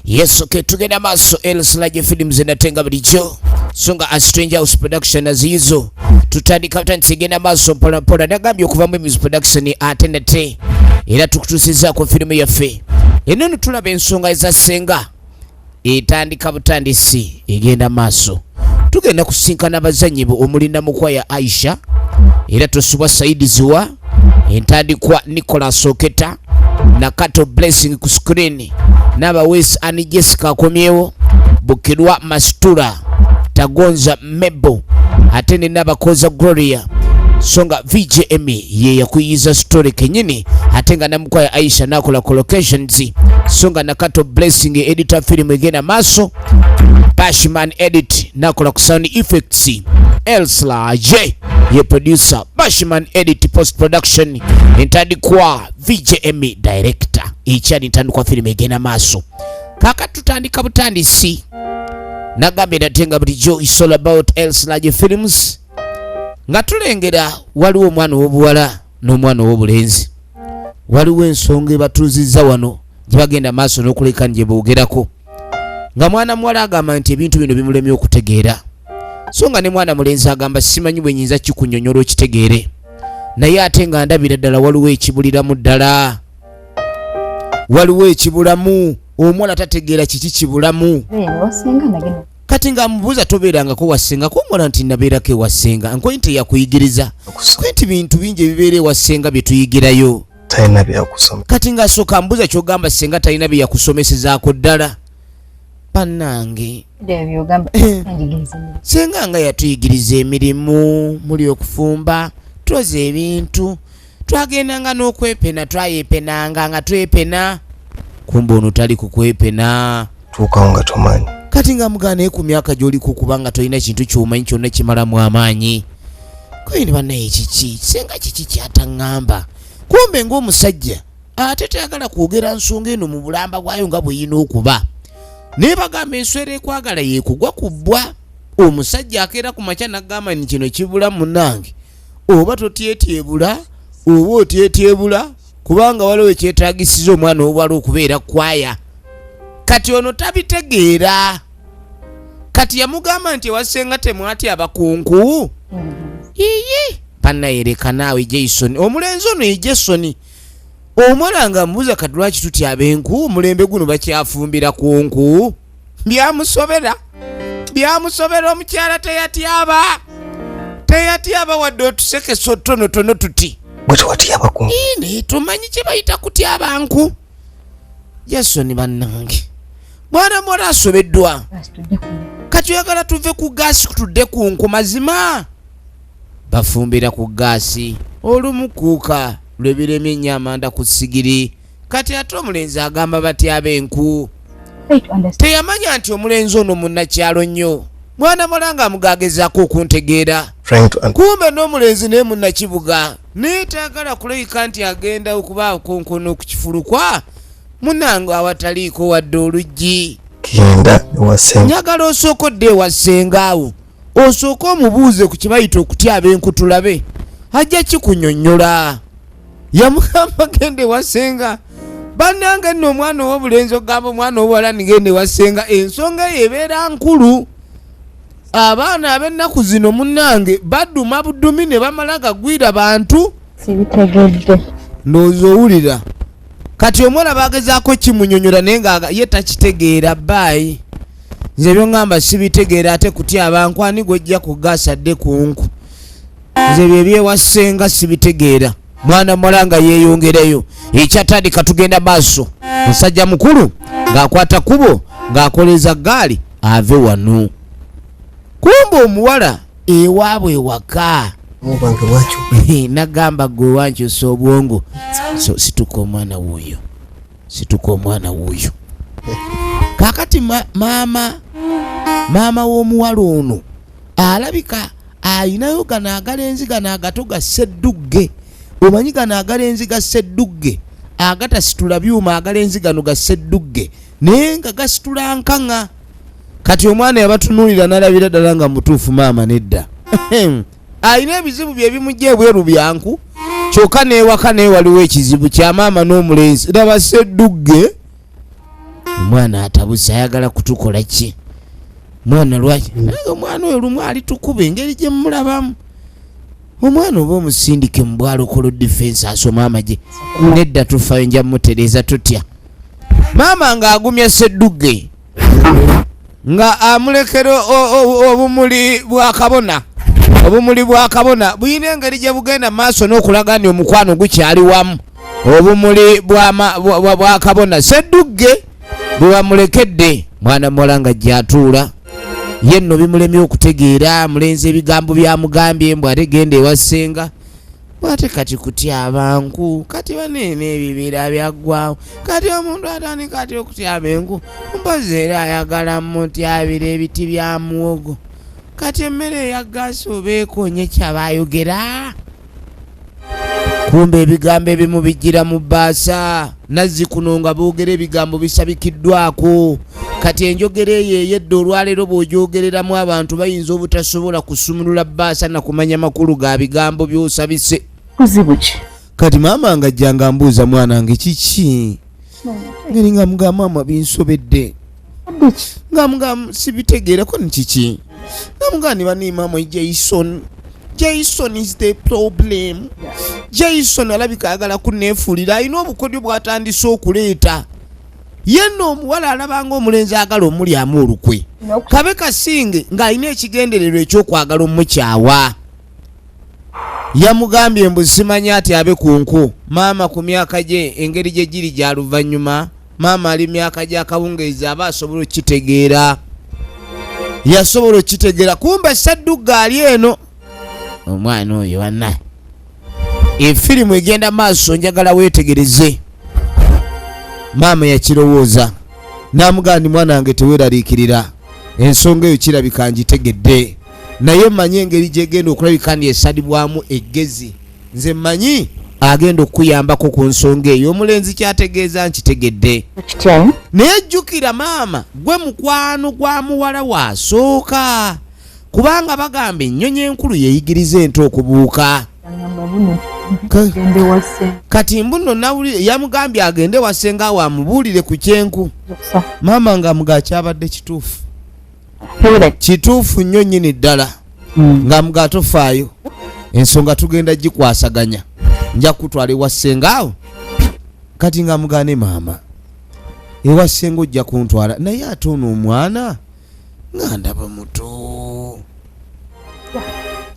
Yes, okay, tugenda maso Elslage Films enatenga bulijjo songa a Strange House Production aziizo tutandika butandisi igenda maso mpola mpola nagambye okuva mu Emizi Production ate nate era tukutuusizaako firimu yaffe eno tulaba ensonga eza ssenga etandika butandisi egenda maaso tugenda kusinkana abazannyi omuli namukwaya aisha era tosubwa saidi ziwa entandikwa nicolas oketa nakato blessing ku screen n'abaweesi ani jessica akomyewo bukirwa mastura tagonza mebo ate ne nabakoza gloria so nga vjm e ye yakuyiza story kenyini ate nga namukwaya aisha nakola ku locations so nga nakato blessing editor film egenda maaso bashman edit nakola ku sound effects elsla j ye producer bashman edit post production entandikwa vjm e director ekyali ntandikwa film egenda maaso kaka tutandika butandisi nagambye nate nga bulijjo is all about elsinage films nga tulengera waliwo omwana ow'obuwala n'omwana ow'obulenzi waliwo ensonga ebatuuzizza wano gye bagenda maaso n'okuleka nje boogerako nga mwana muwala agamba nti ebintu bino bimulemye okutegeera so nga ne mwana mulenzi agamba simanyi bwe nyinza kikunyonyola okitegeere naye ate nga ndabira ddala waliwo ekibuliramu ddala waliwo ekibulamu omwana tategeera kiki kibulamu kati nga mubuuza tobeerangako wasenga kuomwana nti nabeerako ewasenga nkoyi nti yakuyigiriza kwe nti bintu bingi ebibeera ewasenga bye tuyigirayo kati ngaasooka mbuuza kyogamba senga talina bye yakusomesezaako ddala banange eh. senga nga yatuyigiriza emirimu muli okufumba twoza ebintu twagendanga n'okwepena twayepenanga nga twepena kumba ono tali kukwepena tuukawo nga tomanyi kati nga mugaanaye ku myaka gy'oliku kubanga tolina kintu kyomanyi kyonna kimalamu amaanyi kwini banaye kiki senga kiki kyataŋŋamba kumbe ng'omusajja ate tayagala kwogera nsonga eno mu bulamba bwayo nga bweyina okuba naye bagamba enswera ekwagala yekugwa ku bbwa omusajja akeera ku makya nagamba ni kino kibula munange oba totyetyebula oba otyetyebula kubanga waliwo ekyetagisiza omwana owala okubeera kwaya kati ono tabitegeera kati yamugamba nti ewasenga temwati abakunku yiyi panayereka naawe jason omulenzi ono ye jason omwana nga mbuuza kati lwaki tutya abenku omulembe guno bakyafumbira kunku byamusobera byamusobera omukyala teyatyaba teyatyaba wadde otusekesa otutonotono tuti bwetewatyabakunaye tumanyi kyebayita kutyabanku yasoni bannange mwana muwala asobeddwa kati oyagala tuve ku gaasi tudde ku nku mazima bafumbira ku gaasi olumukuuka lwebiremye enyo amanda ku sigiri kati ate omulenzi agamba batya ab'enku teyamanya nti omulenzi ono munnakyalo nnyo mwana mulanga amugagezaako okuntegeera kumbe n'omulenzi naye munnakibuga naye tayagala kulabika nti agenda okuba okonkona okukifulukwa munange awataliiko wadde oluggi njagala osooka odde ewa ssengaawo osooke omubuuze ku kyebayita okutya abenkutulabe ajja kikunyonyola yamugamba genda ewasenga banange nno omwana owobulenzi ogamba omwana owuwala nigenda ewasenga ensonga eyo ebeera nkulu abaana abennaku zino munange baduma budumi ne bamala gagwira bantu sibitegedde ndowooza owulira kati omwana bagezaako kimunyonyola naye nga ye takitegeera baayi nze byongamba sibitegeera ate kutya abantu ani gwejja kugaasa dde kunku nze byebyewasenga sibitegeera mwana muwala nga yeeyongereyo ekyatandika tugenda maaso musajja mukulu ng'akwata kubo ng'akoleza gaali ave wano kumba omuwala ewaabwe ewaka nagamba gwe wankyusa obwongo so situka omwana wuuyo situka omwana wuuyo kakati maama maama w'omuwala ono alabika ayinayo gano agala enzi gano agato ga seddugge omanyi gano agala enzi ga seddugge agatasitula byuma agala enzi gano ga seddugge naye nga gasitula nkaŋa kati omwana yabatunulira nalabira ddala nga mutuufu maama nedda alina ebizibu bye bimujja ebweru byanku kyokka n'ewaka naye waliwo ekizibu kya maama n'omulenzi laba seddugge omwana atabuse ayagala kutukola ki mwana lwaki mm. naye omwana oyo lumu ali tukuba engeri gye mumulabamu omwana oba omusindike mu bwalokolo difensi asoma amagye nedda tufayo nja mutereeza tutya maama ng'agumya seddugge nga amulekera obumuli bwa kabona obumuli bwa kabona bulina engeri gye bugenda mu maaso n'okulaga nti omukwano gukyali wamu obumuli bwa kabona seddugge bwe bamulekedde mwana muwala nga gyatuula ye nno bimulemye okutegeera mulenzi ebigambo byamugambye mbw ategenda ewa ssenga Ate kati kutyaba nku kati baneena ebibira byaggwawo kati omuntu atandika atya okutyaba enku mpozi era ayagala mutyabira ebiti bya muwogo kati emmere eya gaasi oba ekonye kyaba ayogera kumbe ebigambo ebimu bijjira mu bbaasa Nazzikuno nga boogera ebigambo bisabikiddwako kati enjogera eyo eyedda olwaleero bw'ogyogereramu abantu bayinza obutasobola kusumulula bbaasa na kumanya makulu ga bigambo by'osabise kuzibu ki kati maama nga jjanga mbuuza mwana nge kiki hmm. ngeri nga mugamba mama binsobedde nga mga sibitegeera ko nikiki nga mga nibanimamo jason jason is the problem jason alabika ayagala kunefuulira alina obukodyo bwatandise okuleeta yenna omuwala alabanga omulenzi agala omulyamu olukwe kabe kasinge ng'alina ekigendererwa ekyokwagala omukyawa Yamugambye mbu simanya ati abe ku nku. Maama ku myaka gye engeri gye giri gya luvannyuma, maama ali myaka gya kawungeezi aba asobola okukitegeera. Yasobola okukitegeera kumba ssaddugga ali eno. Omwana oyo wanna efirimu egenda maaso njagala weetegereze. Maama yakirowooza n'amugamba nti mwana wange teweeraliikirira ensonga eyo kirabika ngitegedde. naye manyi engeri gyegenda okulabika ndi esalibwamu eggezi nze manyi agenda okukuyambako ku nsonga eyo omulenzi kyategeeza nkitegedde naye jjukira maama gwe mukwano gwa muwala wasooka kubanga bagamba ennyonyi enkulu yeyigiriza ente okubuuka kati mbuno nawulire yamugambye agende wasenga awo amubuulire ku kyenku maama nga muga kyabadde kituufu kituufu nnyo nyini ddala hmm. nga mga tofaayo ensonga tugenda gikwasaganya nja kutwala ewa ssenga awo kati nga mugane maama ewa ssenga ojja kuntwala naye ate ono omwana nga ndaba muto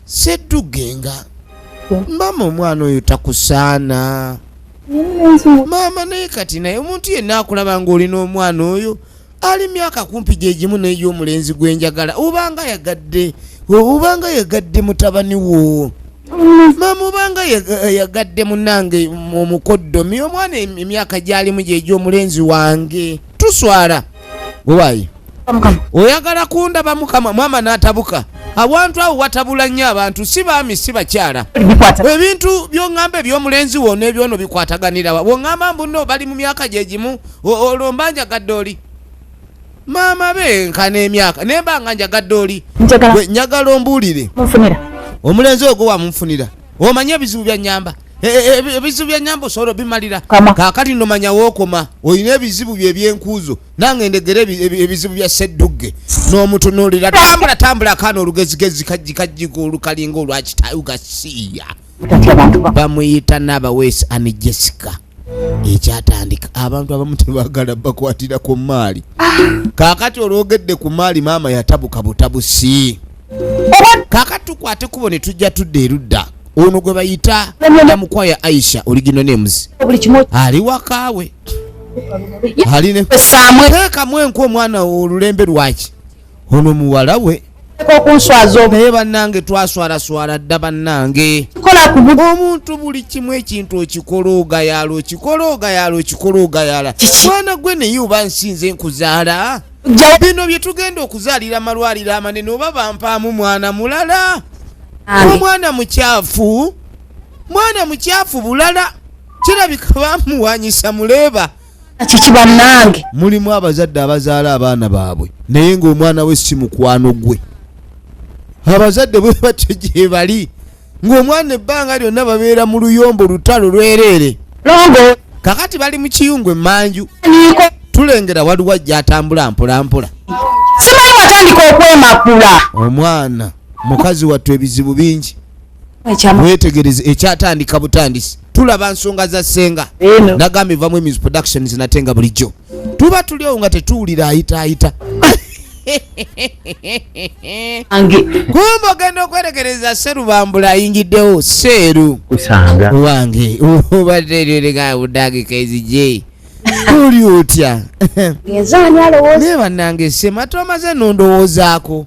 seddugenga maama omwana oyo takusaana maama naye kati naye omuntu yenna akulaba nga olina omwana oyo ali myaka kumpi gyegimu naye omulenzi gwenjagala obanga yagadde obanga yagadde mutabani wo maama obanga yagadde munange omukoddomi omwana emyaka gyalimu gyegyo omulenzi wange tuswala gwewayi oyagala kundaba mukama mwama natabuka awantu awo watabula nnyo abantu si baami si bakyala ebintu byoŋŋamba ebyomulenzi wona ebyono bikwataganirawa woŋŋamba mbuno bali mu myaka gyegimu olwo mba njagadde oli maama be nkana emyaka naye mba nga njagadde oli njagala ombuulire omulenzi ogwo wamunfunira omanyi ebizibu byanyamba e, e, e, ebizibu byanyamba osobola obimalira kakati nomanya wokoma olina ebizibu bye ebyenkuuzo nange ndegera ebizibu bya seddugge n'omutunuulira tambula tambula akaana olugezigezi kajjikajjika olukalinga olwakitayuga siiya bamuyita naabaweesi ani jessica ekyatandika abantu abamu tebagala bakwatira ku maali kakati olwogedde ku maali maama yatabuka butabusi kakati tukwate kubo ne tujja tudda erudda ono gwe bayita namukwaya aisha oligino nemuzi ali wakaawe alinekamu enku omwana olulembe lwaki ono muwala we okunswaza naye bannange twaswalaswala dda bannange omuntu buli kimu ekintu okikola ogayaala okikola ogayaala okikola ogayaala mwana gwe naye oba nsinze nkuzaala bino bye tugenda okuzaalira amalwaliro amanene oba bampaamu mwana mulala omwana mukyafu mwana mukyafu bulala kirabika bamuwanyisa muleeba kiki bannange mulimu abazadde abazaala abaana baabwe naye ng'omwana we si mukwano gwe abazadde bwe batyo gye bali ng'omwana ebbanga lyonna babeera mu luyombo lutalo lwereere longo kakati bali mu kiyungu emanju niko tulengera waliwo ajja atambula mpolampola simanyi watandika okwemakula omwana mukazi wattu ebizibu bingi wetegereze ekyatandika butandisi tulaba nsonga za senga nagamba evamu emis productions nate nga bulijjo tuba tuliowo nga tetuwulira ayitaayita kumba ogenda okwerekereza serubambula ayingiddewo seeru wange obadde eryo leka budagika ezije oli otya naye bannange sema tomaze nondowoozaako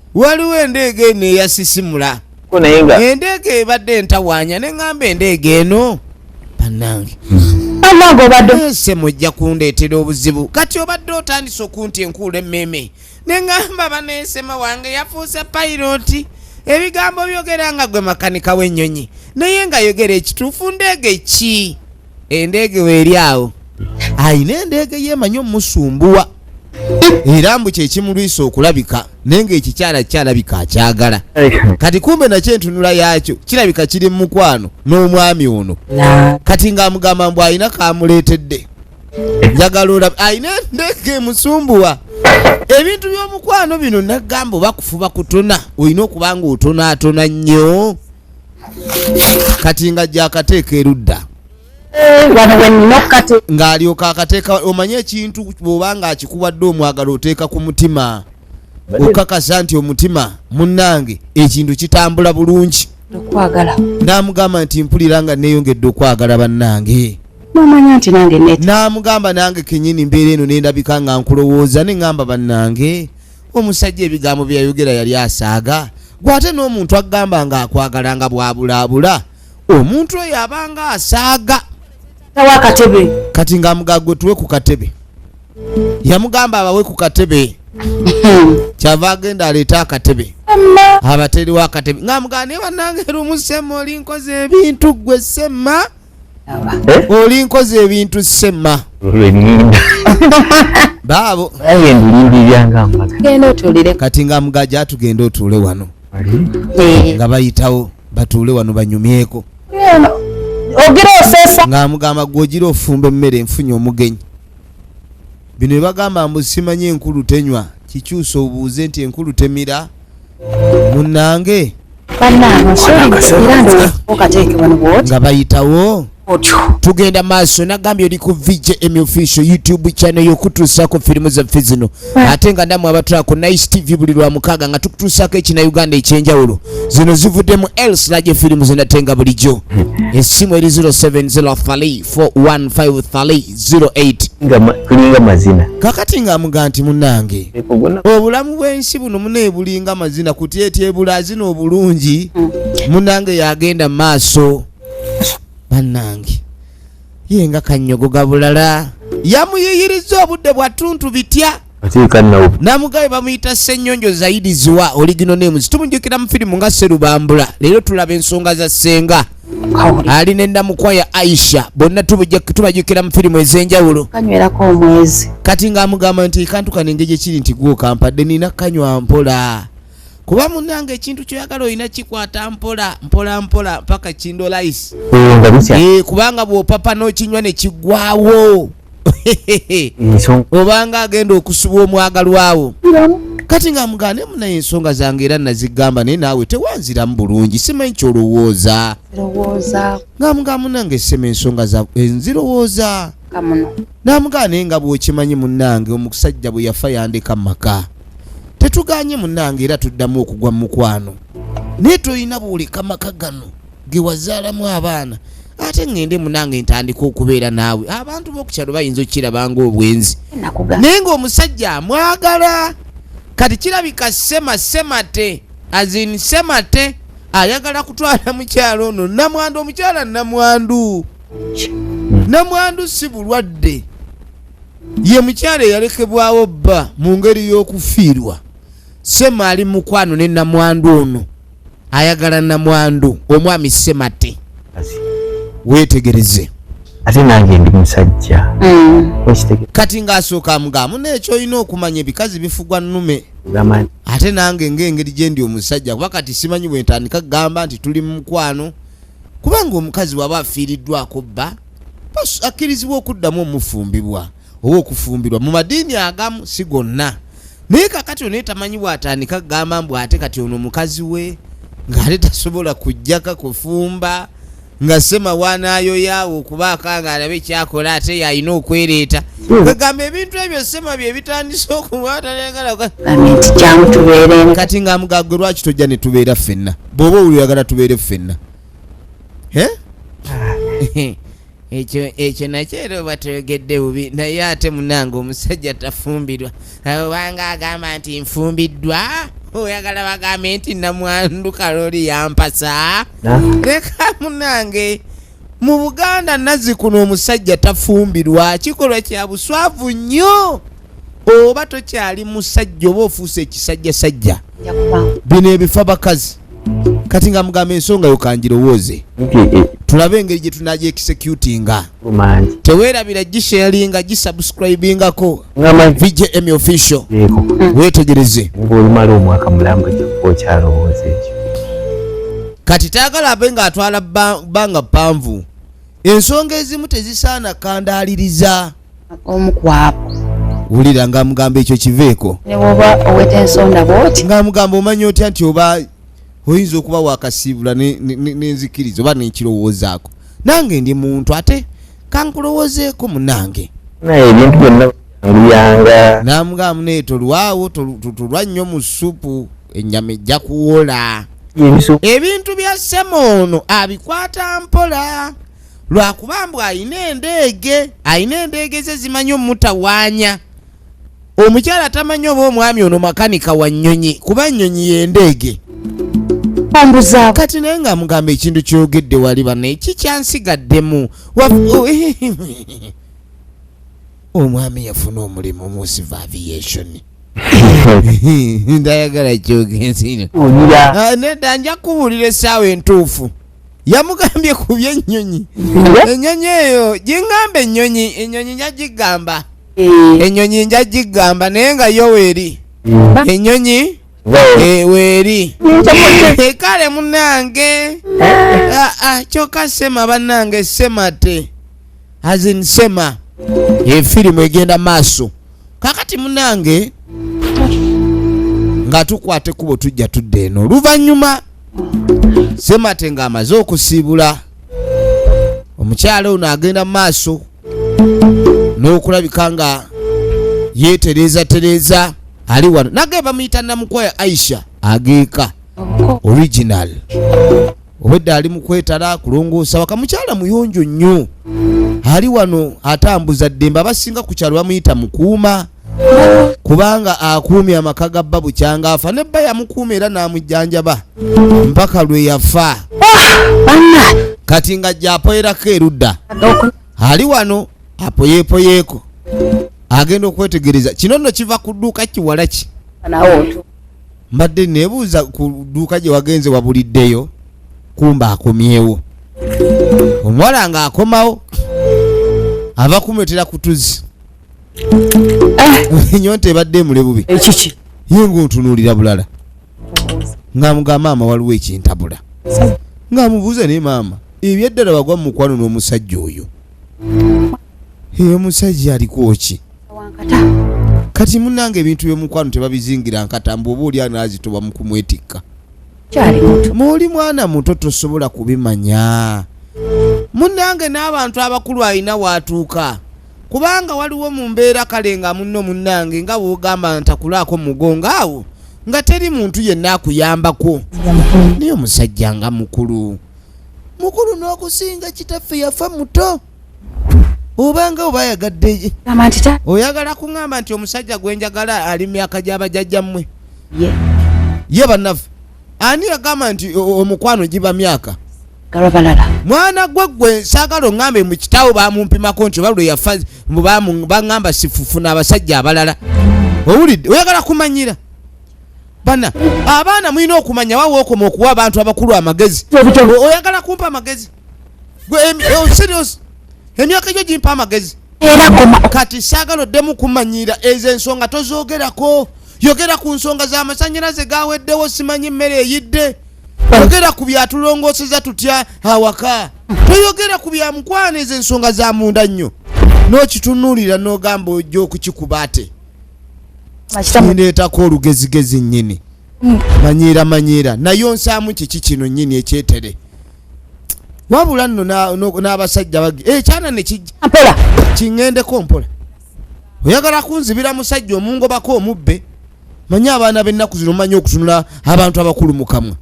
waliwo endeega eno eyasisimula endeega ebadde entawaanya ne ŋŋamba endeega eno bannange ese mujja kundeetera obuzibu kati obadde otandise okunti enkuula emmeeme ne ŋŋamba baneesema wange yafuuse payiroti ebigambo byogera nga gwe makanika w'ennyonyi naye nga yogera ekituufu ndeege ki endeege weeri awo alina endeege yeemanyi omusumbuwa era mbu kyekimulwisa okulabika naye ngaekikyala kyalabika akyagala kati kumbe nakyo entunula yaakyo kirabika kiri mumukwano n'omwami ono kati ngaamugamba mbu alina kamuleetedde njagala olaba alina endeege emusumbuwa ebintu by'omukwano bino nagamba oba kufuba kutona olina okuba nga otonaatona nnyo kati nga gyakateeka erudda ng'alyoka akateeka omanye ekintu bwoba nga akikubadde omwagala oteeka ku mutima okakasa nti omutima munnange ekintu kitambula bulungi n'amugamba nti mpulira nga neeyongedde okwagala bannange nomanya nti nange namugamba nange kenyini mbeera eno nendabika nga nkulowooza neŋamba bannange omusajja ebigambo byeyayogera yali asaaga gwe ate n'omuntu agamba nga akwagala nga bwabulaabula omuntu oyo abanga asaaga tawa akatebe kati nga amugagwe tuwe ku katebe yamugamba abawe ku katebe kyava agenda aleete akatebe abateriwo akatebe nga amugamba naye banange era omusema oli nkoze ebintu gwe sema Eh? oli nkozi ebintu sema baabo kati nga mugaja atugenda otuule wano eh. nga bayitawo batuule wano banyumyeko nga amugamba gwogira ofumba emmere enfunye omugenyi bino ebagamba mbu simanyi enkulu tenywa kikyusa obuuze nti enkulu temira munange nga bayitawo tugenda maaso nagambye oli ku vjm official youtube channel yokutuusaako firimu zaffe zino ate nga namwe abatula ku nice tv buli lwa mukaaga nga tukutuusaako ekina uganda ekyenjawulo zino zivudde mu els laje firimu zinatenga bulijjo esimu eri 0703 415 08tulinga mazina kakati nga amuga nti munange obulamu bwensi buno munaye bulinga mazina kuti etyebula azina obulungi mm. munange yagenda maaso banange yenga kanyogo gabulala yamuyiyiriza obudde bwatuntu bitya namugabe bamuyita senyonjo zaidi ziwa oligino names tumujukira mu firimu nga serubambula leero tulaba ensonga za senga ali nenamukwa ya aisha bonna tubajukira mu firimu ezenjawulo kati ngaamugamba nti kantukana engeri gyekiri nti gwokampadde nina kanywa mpola kuba munange ekintu kyoyagala olina kikwata mpola mpola mpola mpaka kindolais eh, eh, kubanga bwopapa nokinywa nekigwawo obanga agenda okusubwa omwagalwawo kati nga mugane munaye ensonga zange era nazigamba naye naawe tewanziramu bulungi simanyi kyolowooza nga muga munange sema ensonga za enzirowooza namugaa naye nga bwokimanyi munange omusajja bwe yafa yandeka mumaka tetuganye munange era tuddamu okugwa mu mukwano naye tolina bwoleka maka gano ge wazaalamu abaana ate ŋŋende munange ntandika okubeera naawe abantu b'okukyalo bayinza okukirabanga obwenzi naye ng'omusajja amwagala kati kirabika sema semate azin semate ayagala kutwala mukyalo ono namwandu omukyala namwandu namwandu si bulwadde ye mukyala eyalekebwawo bba mu ngeri y'okufiirwa sema ali mukwano ne namwandu ono ayagala namwandu omwami semate wetegereze ate nange ndi musajja mm. kati ngaasooka amugamu nekyoyina okumanya ebikazi bifugwa nume ate nange ngaengeri gyendi omusajja kuba kati simanyi bwentandika kugamba nti tuli mumukwano kubanga omukazi waba afiiriddwako bba akkirizibwa okuddamu omufumbibwa oba okufumbirwa mu madiini agamu si gonna naye kakati onaye tamanyi bwatandika kugamba mbu ate kati ono mukazi we ngaate tasobola kujjaka kufumba nga semawanayoyaawo okubaako nga alabe kyakola ate yalina okwereeta kwegamba hmm. ebintu ebyo sema byebitandise okubaatayagalakati nga mugagwe lwaki tojja netubeera ffenna bwoba owuliragala tubeere ffenna ah. ekyo ekyo nakyo era oba toyogedde bubi naye ate munange omusajja tafumbirwa obanga agamba nti nfumbiddwa oyagala bagambe nti namwandu kaloli yampasa leka munange mu buganda nazikuno omusajja tafumbirwa kikolwa kya buswavu nnyo oba tokyali musajja oba ofuuse ekisajja sajja bino ebifa bakazi kati nga mugamba ensonga yo kangirowooze tulabe engeri gye tunaja ekisecutinga teweerabira gisharinga gisubscribingako vjm official weetegereze kati taagala abe ng'atwala bbanga ppanvu ensonga ezimu tezisaana kandaaliriza omu kwabo wulira nga amugamba ekyo kiveeko newoba oweta ensonda bwoti nga amugamba omanya otya nti oba oyinza okuba wakasiibula nenzikiriza oba nekirowoozaako nange ndi muntu ate kankulowoozeeko munange naye ebintu byonna mbiyanga namugamba naye tolwawo tolwa nnyo mu supu ennyama ejja kuwola ebintu bya sema ono abikwata mpola lwakuba mbu ayina endeege ayina endeege ze zimanyi omutawaanya omukyala tamanyi oba omwami ono makanika wa nnyonyi kuba nnyonyi yendeege kati naye nga mugamba ekintu kyogedde wali banaye kikyansigaddemu oh, eh, eh, eh, omwami yafuna omulimu mu siva aviation ndayagala kyogenzi ah, nedda nja kubuulira essaawa entuufu yamugambye ku byennyonyi ennyonyi eyo gingamba ennyonyi ennyonyi nja gigamba ennyonyi nja gigamba naye nga yo weeri ennyonyi eh, weeri Eh, kale munange Ah, ah, kyokka sema bannange semate azin sema efirimu egenda maaso kakati munange nga tukwata ekkubo tujja tudda eno oluvannyuma semate nga amaze okusiibula omukyala ono agenda mu maaso n'okulabika nga yeetereeza tereeza ali wano nage bamuyita namukwaya aisha ageeka original obwedda ali mukwetala kulongoosa waka mukyala muyonjo nnyo ali wano atambuza ddembe abasinga ku kyalo bamuyita mukuuma kubanga akuumye amaka ga bba bukyanga afa ne bba yamukuuma era n'amujjanjaba mpaka lwe yafa kati nga gyapoyerako erudda ali wano apoyeepoyeeko agenda okwetegereza kino nno kiva ku dduuka kiwala ki mbadde nebuuza ku dduuka gye wagenze wabuliddeyo kumba akomyewo omuwala nga akomawo ava kumwetera kutuzi eh. nyonta ebadde emule bubi ekiki eh, ye ngaontunuulira bulala ngaamuga maama waliwo ekintabula ngaamubuuza naye maama ebyaddala wagwa mu mukwano n'omusajja oyo eyo omusajja alikoki kati munange ebintu byomukwano tebabizingira nkata mbu oba oli anazitoba mukumwetikka muoli mwana muto tosobola kubimanya munange n'abantu abakulu alina waatuuka kubanga waliwo mu mbeera kale nga munno munange nga wogamba ntakulaako mugongo awo nga teri muntu yenna akuyambako naye omusajja nga mukulu mukulu n'okusinga kitaffe yafa muto obanga oba ayagadde oyagala kuŋamba nti omusajja gwenjagala ali myaka gyabajajja mmwe ye bannaffe ani yagamba nti omukwano giba myaka mwana gwe gwe saagala oŋambe mu kitaawo bamumpimako nti oba lwe yafa baŋamba sifufu n'abasajja abalala owulidde oyagala kumanyira bana abaana mulina okumanya wawookoma okuwa abantu abakulu amagezi oyagala kumpa amagezi Eh, emyaka gyo gimpa amagezi kati saagala oddemu kumanyira ezo ensonga tozoogerako yogera ku nsonga z'amasanyalaze gaweddewo simanyi mmere eyidde yogera ku byatulongooseza tutya awaka toyogera ku bya mukwano ezo ensonga za munda nnyo n'okitunuulira n'ogamba ojja okukikuba ate kineetako olugezigezi nnyini mm. manyiira manyiira naye onsaamu kiki kino nnyini ekyetere wabula nno n'abasajja bagi ekyana eh, nekijja mpola kiŋŋendeko mpola oyagala kunzibira musajja omungobako omubbe manyi abaana b'ennaku zino manyi okutunula abantu abakulu mu kamwa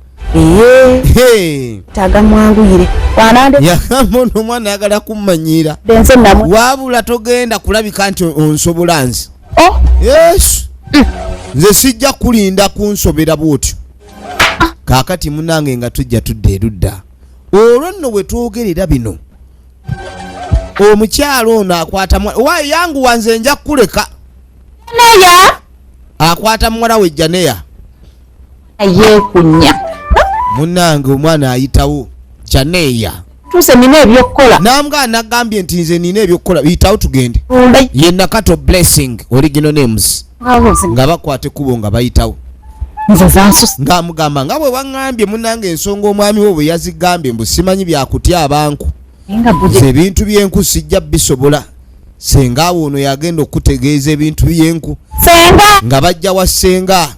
yagamono omwana ayagala kummanyiira wabula togenda kulabika nti onsobola nze oh. yesu mm. nze sijja kulinda kunsobera bwotyo kaakati munange nga tujja tudda erudda olwo nno we twogerera bino omukyalo ono akwata wa yangu wanze nja kukuleka neya akwata muwala we janeya ayekunya munange omwana ayitawo janeya tuse nina ebyokukola nambwa anagambye nti nze nina ebyokukola biyitawo tugende ye nakato blessing original names nga bakwate kubo nga bayitawo ngaamugamba nga bwe waŋambye munanga ensonga omwami wo bwe yazigambye mbu simanyi byakutya abanku ebintu byenku sijja bisobola senga awo ono yagenda okutegeeza ebintu byenku nga bajja wa senga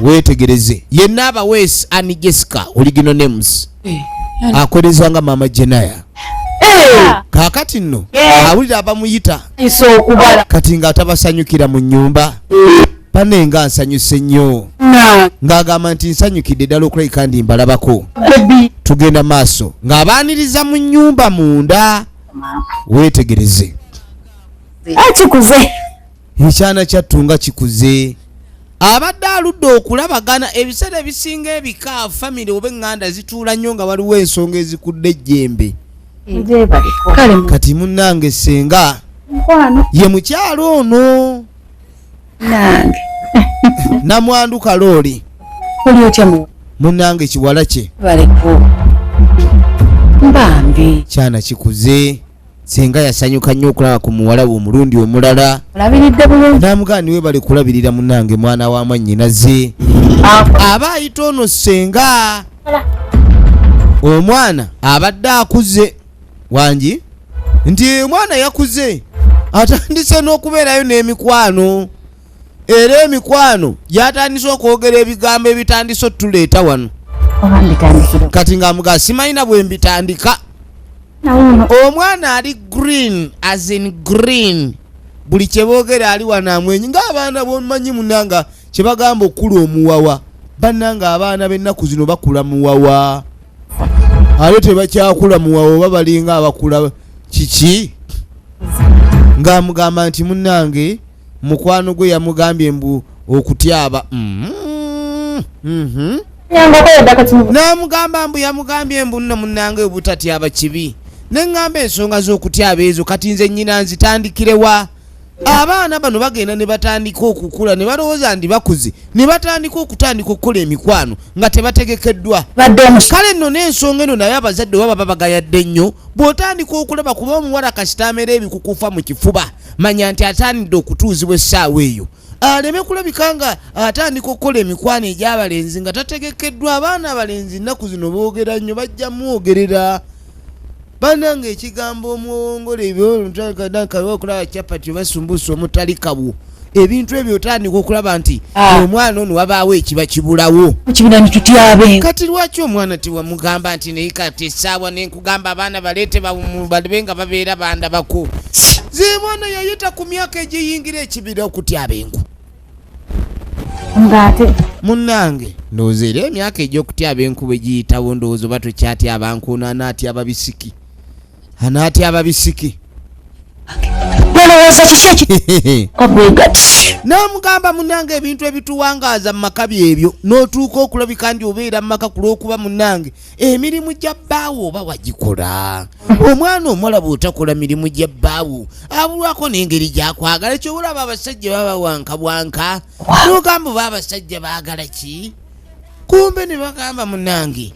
wetegereze yenna abaweesi ani jessica original names eh, eh. akoleza nga maama jenaya eh. kakati nno awulira abamuyita kati nga atabasanyukira mu nyumba bane nga nsanyuse nnyo ng'agamba nti nsanyukidde ddala okulabika ndi mbalabako tugenda maaso ng'abaaniriza mu nyumba munda wetegereze akikuze ekyana kyattu nga kikuze abadde aludde okulabagana ebiseera ebisinga ebika famire oba eŋŋanda zituula nnyo nga waliwo ensonga ezikudde ejjembe kati munnange ssenga ye mukyalo ono namwandu kalooli munnange kiwala kye kyana kikuze senga yasanyuka nnyo okulaba ku muwala we omulundi omulala namugani we bali kulabirira munange mwana wa mwannyinaze aba ayita ono senga omwana abadde akuze wangi nti omwana yakuze atandise n'okubeerayo n'emikwano era emikwano gyatandise okwogera ebigambo ebitandise otuleeta wano kati ngaamugaa simanyina bwe mbitandika omwana ali green as in green buli kyeboogera ali wano amwenyi ngaabaana bomanyi munanga kyebagamba okukula omuwawa bannanga abaana b'ennaku zino bakula muwawa ate tebakyakula muwawa oba balinga abakula kiki ngaamugamba nti munange mukwano gwe yamugambye mbu okutyaba mm-hmm. mm-hmm. n'amugamba mbu yamugambye mbu nno munange obutatyaba kibi ne ŋŋamba ensonga z'okutyaba ezo kati nze nnyina nzitandikirewa abaana bano bagenda ne batandika okukula ne balowooza ndi bakuzi ne batandika okutandika okukola emikwano nga tebategekeddwa kale nno n'ensonga eno naye abazadde oba baba bagayadde nnyo bw'otandika okulaba kuba omuwala kasitaamera ebikukufa mu kifuba manya nti atandidde okutuuzibwa essaawa eyo aleme kulabika nga atandika okukola emikwano egyabalenzi nga tategekeddwa abaana abalenzi nnaku zino boogera nnyo bajja mwogerera bananga ekigambo omuwongole ebyookulaba capati obasumbusa omutalikawo ebintu ebyo otandika okulaba nti ah. omwana ono wabaawo ekiba kibulawo kati lwaki omwana tewamugamba nti naye kati esaawa kugamba abaana baleete balibe nga babeera bandabako zibona yayita ku myaka egiyingira ekibira okutya abengu ngaate munnange ndowooza era emyaka egy'okutya abenku bwe giyitawo ndowooza oba tokyatya abankuuno anaatya ababisiki anaatya ababisiki olowooza kiki ekigati n'amugamba munange ebintu ebituwangaaza mu maka byebyo n'otuuka okulabika ndi obeera mu maka ku lw'okuba munange emirimu gya bbaawo oba wagikola omwana omuwala bw'otakola mirimu gya bbaawo abulwako n'engeri gyakwagala kyobolaba abasajja baba wankabwanka n'ogamba oba abasajja baagala ki kumbe ne bagamba munange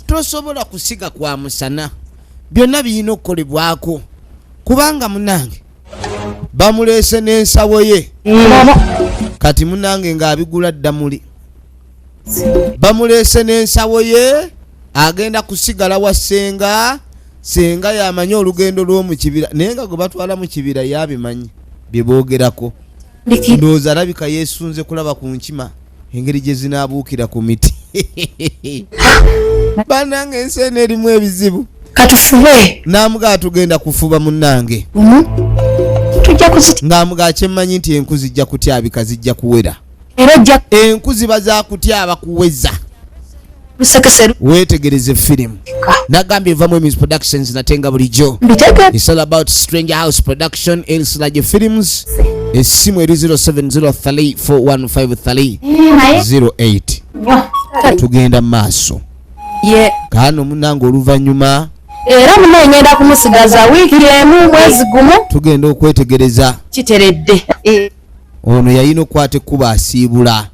tosobola kusiga kwa musana byonna birina okukolebwako kubanga munange bamuleese n'ensawo ye kati munange ng'abigula ddamuli bamuleese n'ensawo ye agenda kusigala wa senga senga yamanyi olugendo lw'omukibira naye nga gwe batwala mu kibira yabimanyi bye boogerako ndowooza alabika yeesunze kulaba ku nkima engeri gye zinaabuukira ku miti banange ensi eno erimu ebizibu katufube namuga atugenda kufuba munange mhm. ngamuga kyemmanyi nti enku zijja kutyabika zijja kuwera enku ziba zakutyaba kuweza wetegereze firimu nagambye evamu emis productions nate nga bulijjo is all about stranger house production elsilage films essimu eri 0703415308 tugenda mu maaso kaano munange oluvannyuma era muno ngenda kumusigaza wiiki emu mwezi gumu tugenda okwetegereza kiteredde eh. ono yalina okukwata ekkuba asiibula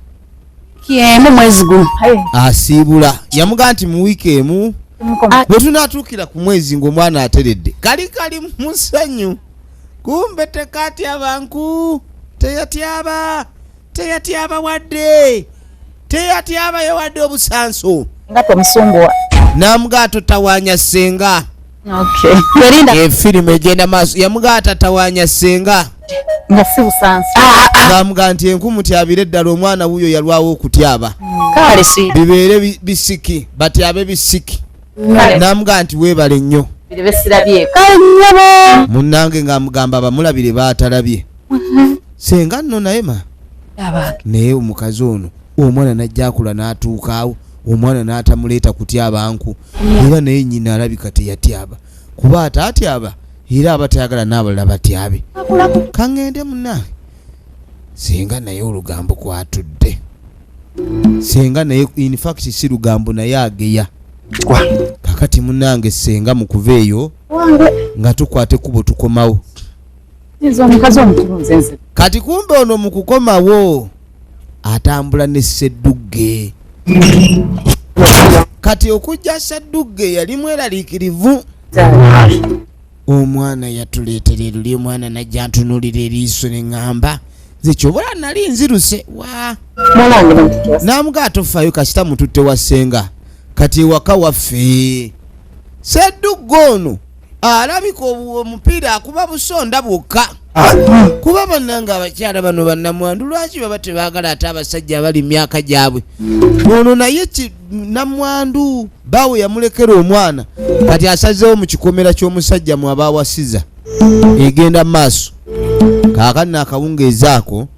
emu mwezi gumu asiibula yamugaa nti mu wiiki emu bwe tunaatuukira ku mwezi ng'omwana ateredde kali kali musanyu kumbe tekatyabanku teyatyaba teyatyaba wadde teyatyabayo wadde obusanso nga tomusumbuwa namugaa totawanya senga efirimu egenda maaso yamugaa tatawanya senga nga si busansi ah, ah, ah. bamuga nti enku mutyabire eddala omwana wuyo yalwawo okutyaba hmm. bibeere bisiki batyabe bisiki namuga nti webale nnyo munange ngaamugamba bamulabire baatalabye mm-hmm. senga nno naye ma naye omukazi ono omwana najjakula n'atuukaawo omwana n'atamuleeta kutyaba nku era naye nyina alabika teyatyaba kuba ataatyaba era aba tayagala n'abalala batyabe kaŋŋende munange singa naye olugambo kwatudde senga naye in fact si lugambo naye ageya kakati munange senga mukuva eyo nga tukwate kubo tukomawo kati kumbe ono mu kukomawo atambula ne sseddugge kati okujja sseddugge yali mweraliikirivu omwana yatuleetera eruli omwana najja ntunulira eriiso ne ŋŋamba zekyobola nali nziruse wa namuga atofayo kasita mututte wa ssenga kati ewaka waffe seddugga ono alabika omupiira akuba busonda bwokka ah. kuba bananga abakyala bano banamwandu lwaki baba tebagala ate abasajja abali myaka gyabwe ono naye namwandu baawe yamulekera omwana kati asazeewo mu kikomera ky'omusajja mwaba awasiza egenda maaso kaakani akawungeezi ako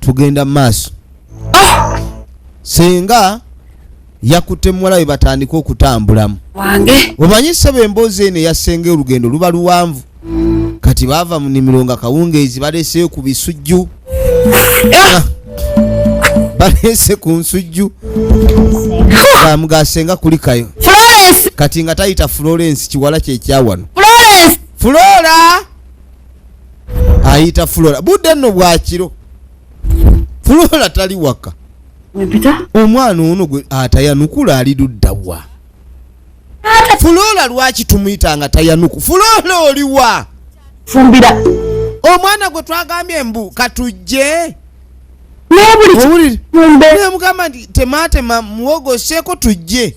tugenda maaso ah! senga yakutte muwala we batandika okutambulamu wange omanyi sebo emboozi eno eyasenga olugendo luba luwanvu kati baava mu nimiro nga kawungeezi baleeseyo ku bisujju eh! ah! baleese ku nsujju amugasenga kulikayo kati nga tayita florence kiwala kyekyawano flora ayita flora budde nno bwakiro flora tali waka omwana ono gwe atayanukula ali luddawa fuloola lwaki tumuyita nga tayanuku fuloola oliwa fumbira omwana gwe twagambye mbu katujje mugamba nti tematema muwogoseeko tujje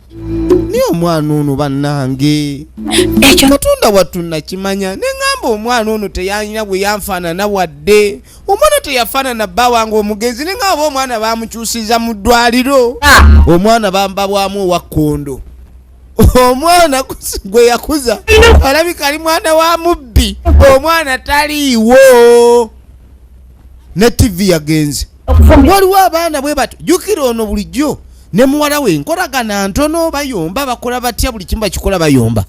naye omwana ono bannange katonda wattu nakimanya neŋamba omwana ono teyalina bwe yanfaanana wadde omwana teyafaanana bba wange omugenzi neŋa oba omwana bamukyusiza mu ddwaliro ah. omwana bamba bwamu owa kkondo omwana gwe yakuza alabika ali mwana wa mubbi omwana taliiwo ne tivi yagenze waliwo abaana bwe batyo jukira ono bulijjo ne muwala we nkolagana ntono bayomba bakola batya buli kimu bakikola bayomba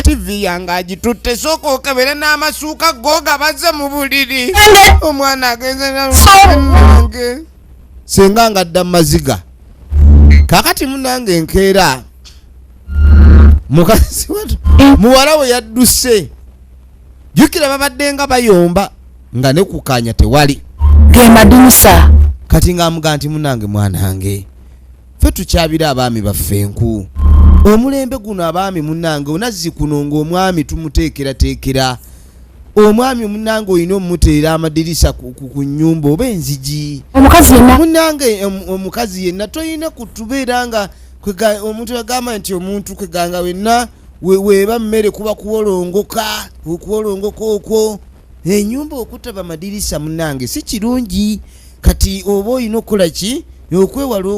tivi yange agitutte sooka okebere n'amasuuka googa baze mu buliri omwana agenze nange senga nga adda mumaziga kakati munange enkeera mukazi muwala we yadduse jukira babadde nga bayomba nga ne kukaanya tewali ge madinisa kati ng'amuga nti munange mwanange ffe tukyabira abaami baffe enku omulembe guno abaami munange onazzi kuno ng'omwami tumuteekerateekera omwami munange olina omumuteera amadirisa ku nyumba oba enzigi munange omukazi yenna tolina kutubeera nga omuntu agamba nti omuntu kweganga wenna weeba mmere kuba kuwolongoka okuwolongoka okwo enyumba okutaba madirisa munange si kirungi kati oba olina okukola ki okwewala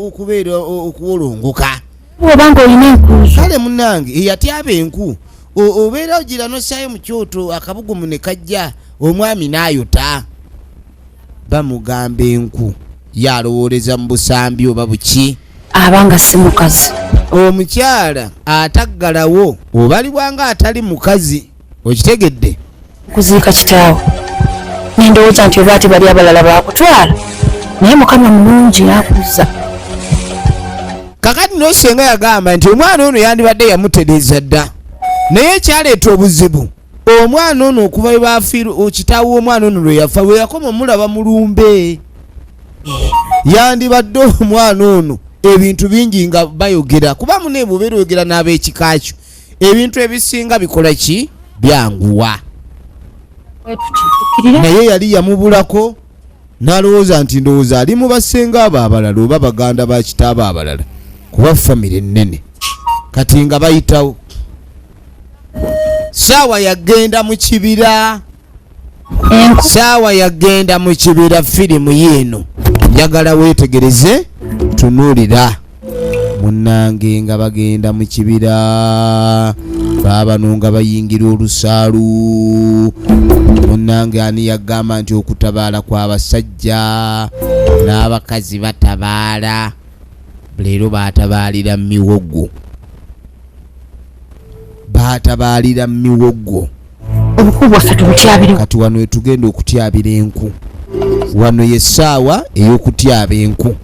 okubeera okuwolongoka obanga olina enku kale munange eyatyaba enku obeera ogira nosaayo mu kyoto akabugumu ne kajja omwami n'ayota bamugamba enku yalowooleza mu busambi oba buki abanga si mukazi omukyala ataggalawo obaliwanga atali mukazi okitegedde kuziika kitaawo nendowooza nti oba ati bali abalala bakutwala naye mukama mulungi yakuzza kakati nosenga yagamba nti omwana ono yandibadde yamutereeza dda naye ekyaleeta obuzibu omwana ono okuva webafir kitaawo womwana ono lweyafa weyakoma omulaba mulumbe yandibadde omwana ono ebintu bingi nga bayogera kuba munebubeera oyogera n'abekika kyo ebintu ebisinga bikola ki byanguwa naye yali yamubulako n'alowooza nti ndowooza ali mu basenga abo abalala oba baganda ba kitaabo abalala kuba famire ennene kati nga bayitawo saawa yagenda mu kibira saawa yagenda mu kibira firimu yiino njagala weetegereze tunuulira munnange nga bagenda mu kibira baabano nga bayingira olusaalu munnange ani yagamba nti okutabaala kw'abasajja n'abakazi batabaala leero baatabaalira miwogo baatabaalira miwogo obukulu bwaffe tubutyabire kati wano wetugenda okutyabira enku wano yesaawa eyokutyaba enku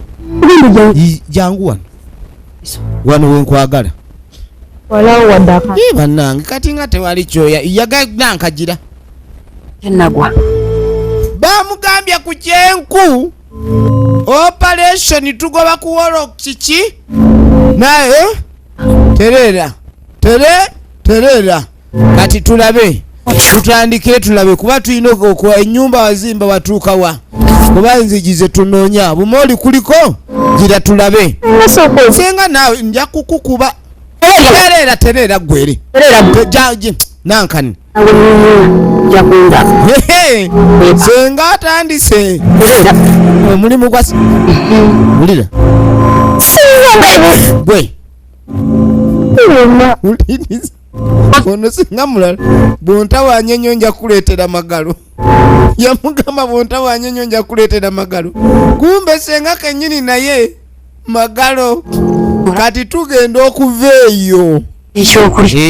jangu wano wano wenkwagala banange kati nga tewali kyoya yagana nkagira enagwa bamugambye ku kyenku operation tugoba kuwolo kiki naye terera tere terera kati tulabe tutandikire tulabe kuba tulina okuwa enyumba wazimba watuuka wa kuba nzigi zetunoonya bumooli kuliko gira tulabe senga naawe nja kukukuba tereera tereera gwere nankani senga atandise omulimu gwa wulira gwe ono singa mulala bwontawanya ennyo nja kuleetera magalo yamugamba bwontawanya ennyo nja kuleetera magalo kumbe senga kenyini naye magalo kati tugenda okuva eyo ekyokulya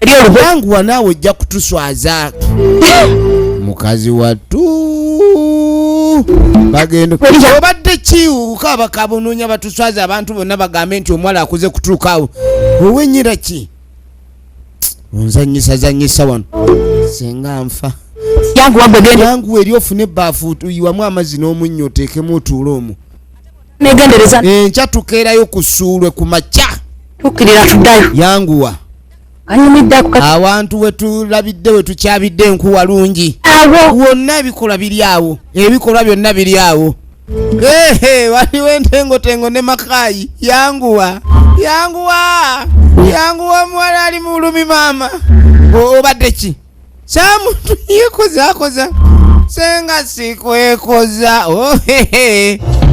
ebyobubanguwa naawe ojja kutuswaza mukazi wattu bagenda obadde kiwuka bakabonoonya batu tuswaza abantu bonna bagambe nti omuwala akuze kutuuka awo owenyira ki onzanyisa zanyisa wano senga nfa yangu eri ofune ebbaafu yiwamu amazzi n'omunnyo oteekemu otuule omu enkya tukeerayo kusuulwe ku makya yanguwa awantu wetulabidde wetukyabidde enku walungi wonna ebikolwa biri awo ebikolwa byonna biri awo waliwo entengotengo ne makayi yanguwa yanguwa yanguwa omuwala ali mu bulumi maama obadde ki kyamuntu yekozakoza senga sikwekoza oh,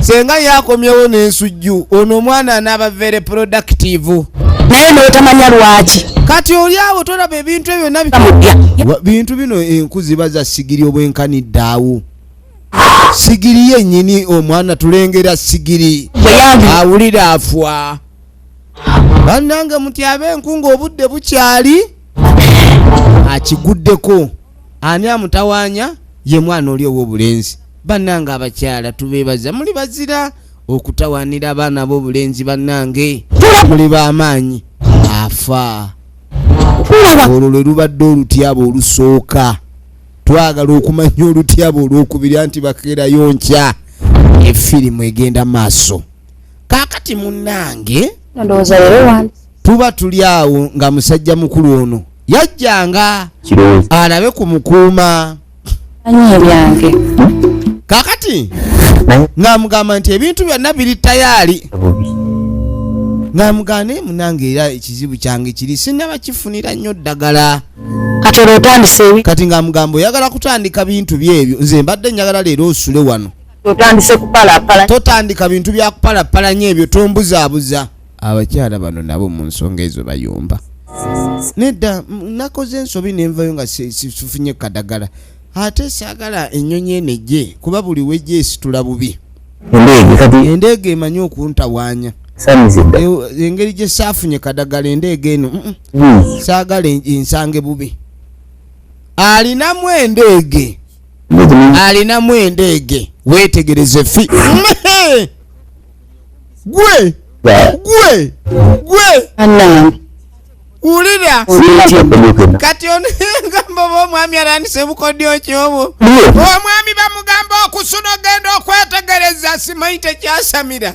senga yakomyewo nensujju ono omwana anaba very productive naye notamanya lwaki kati oli awo tolaba ebintu ebyo nabintu bino enku ziba za sigiri obwenkanidde awo sigiri yenyini omwana tulengera sigiri awulira afwa bannange mutyaba enku ng'obudde bukyali akiguddeko ani amutawaanya ye mwana oli ow'obulenzi bannange abakyala tubeebaza muli bazira okutawaanira abaana ab'obulenzi bannange muli b'amaanyi afa olwo lwe lubadde olutyaba olusooka twagala okumanya olutyaba olwokubiri anti bakeerayo nkya efirimu egenda maaso kakati munange ndowooza leero wandi tuba tuli awo nga musajja mukulu ono yajjanga alabe ku mukuuma anyi ebyange kakati ng'amugamba nti ebintu byonna biri tayaali ng'amugamba naye munange era ekizibu kyange kiri sinaba kifunira nnyo ddagala kati ng'amugamba oyagala kutandika bintu bye ebyo nze mbadde njagala leero osule wano otandise kupalapala totandika bintu bya kupalapalanya ebyo tombuzaabuza abakyala bano nabo mu nsonga ezo bayomba nedda nakoze ensobi nenvayo nga sifunye kadagala ate saagala ennyonyi eno ejje kuba buli wejja esitula bubi endeege emanyi okuntawanya engeri gye saafunye kadagala endeege eno saagala ensange bubi alinamu endeege alinamu endeege weetegereze fi gwe gwe gwe wulira kati onegamba oba omwami arandise obukodyo kyobwo omwami bamugamba okusuna ogenda okwetegereza simanyi tekyasamira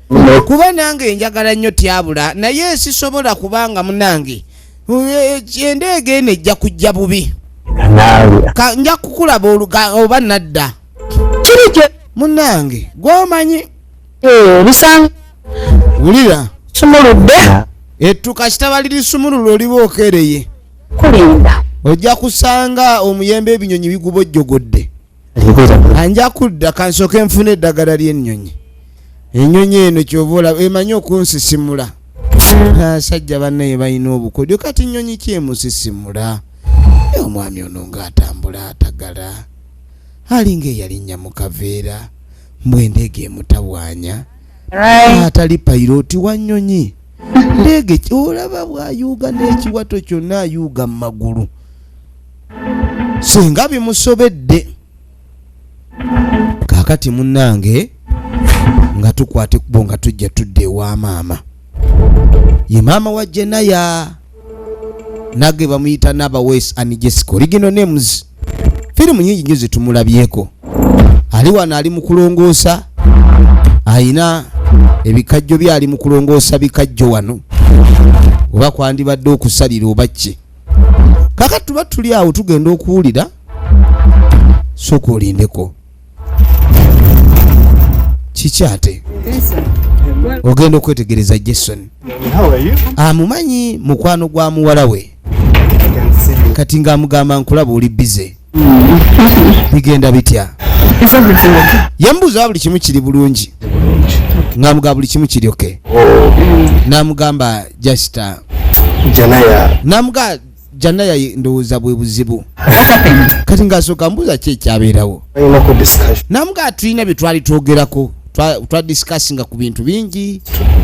kuba nange njagala nnyo tyabula naye sisobola kubanga munange endeega eno ejja kujja bubi nja kukulaba oba nadda kirikyo munange gwomanyi bisanga wulira sumuludde ettu kasita bali lisumulula oliba okereye kulinda ojja kusanga omuyembe ebinyonyi bigubojjogodde anja kudda kansooke nfuna eddagala ly'ennyonyi ennyonyi eno kyova olaba emanyi okunsisimula asajja bannaye balina obukodyo kati nnyonyi kyemusisimula e omwami ono ng'atambula atagala alinga eyalinnya mu kaveera mbw endeega emutawaanya atali payiroti wa nnyonyi ndeege olaba bwayuuga n'ekiwato kyonna ayuuga mu magulu singa bimusobedde kakati munange nga tukwate kubo nga tujja tudde ewa maama ye maama wa jenaya nage bamuyita nabawes and jessica original names firimu nyingi nyo zetumulabyeko ali wano ali mu kulongoosa ayina ebikajjo bye ali mu kulongoosa bikajjo wano oba kwandibadde okusalira oba kye kaka tuba tuli awo tugenda okuwulira soka olindeko kiki ate ogenda okwetegereza jason amumanyi mukwano gwa muwala we kati ng'amugamba nkulaba oli bize bigenda bitya yambuuza buli kimu kiri bulungi ngamuga buli kimu kiri oke oh. namugamba jasta namuga janaya ndowooza bwe buzibu kati ngaasooka mbuuza ki ekyabeerawo namuga tulina bye twali twogerako twadisikasinga ku bintu bingi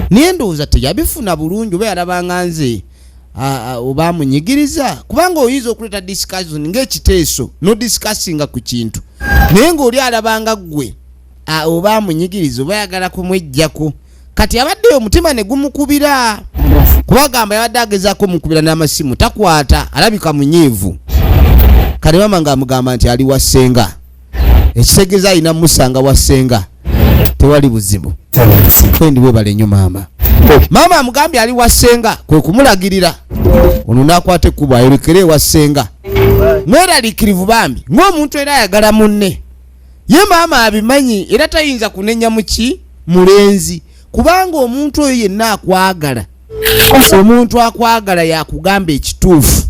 naye ndowooza teyabifuna bulungi oba yalabanga nze oba amunyigiriza kubanga oyinza okuleeta discussion ngaekiteeso no discussinga ku kintu naye ngaoli alabanga ggwe oba amunyigiriza oba ayagala kumwejjako kati abadde omutima ne gumukubira kubagamba yabadde agezaako omukubira n'amasimu takwata alabika munyiivu kati mama nga amugamba nti ali wa ssenga ekitegeza alina musanga wa senga tewali buzibu kwendi webale nyo maama maama amugambye ali wa senga kwe kumulagirira ono nakwata ekkubo ayolekere ewa senga mweralikirivu bambi ng'omuntu era ayagala munne ye maama abimanyi era tayinza kunenya muki mulenzi kubanga omuntu oyo yenna akwagala omuntu akwagala yakugamba ekituufu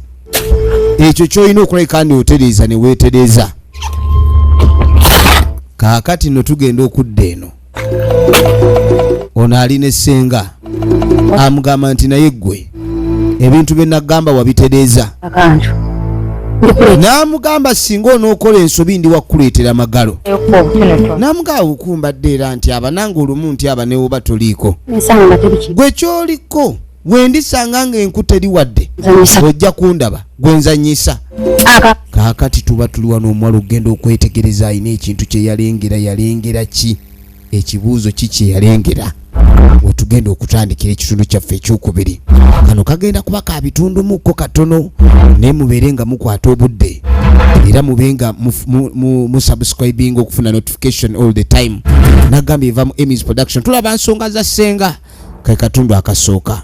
ekyo kyolina okulabika ni otereeza ne weetereeza kaakati no tugenda okudda eno ono ali ne ssenga amugamba nti naye ggwe ebintu bye nagamba wabitereeza akantu n'amugamba singa onookola ensobi ndi wakuleetera magalo n'amugamba wukumbadde era nti abananga olumu nti abanewoba toliiko gwe kyoliko wendisanga nga enku teri wadde ojja kundaba gwenzanyisa kaakati tuba tuliwa n'omuwala okugenda okwetegereza alina ekintu kye yalengera yalengera ki ekibuuzo ki kye yalengera we tugenda okutandikira ekitundu kyaffe ekyokubiri kano kagenda kuba ka bitundumukko katono naye mubeere nga mukwata obudde era mube nga musubscribinga okufuna notification all the time nagamba eva mu emis production tulaba nsonga za ssenga ke katundu akasooka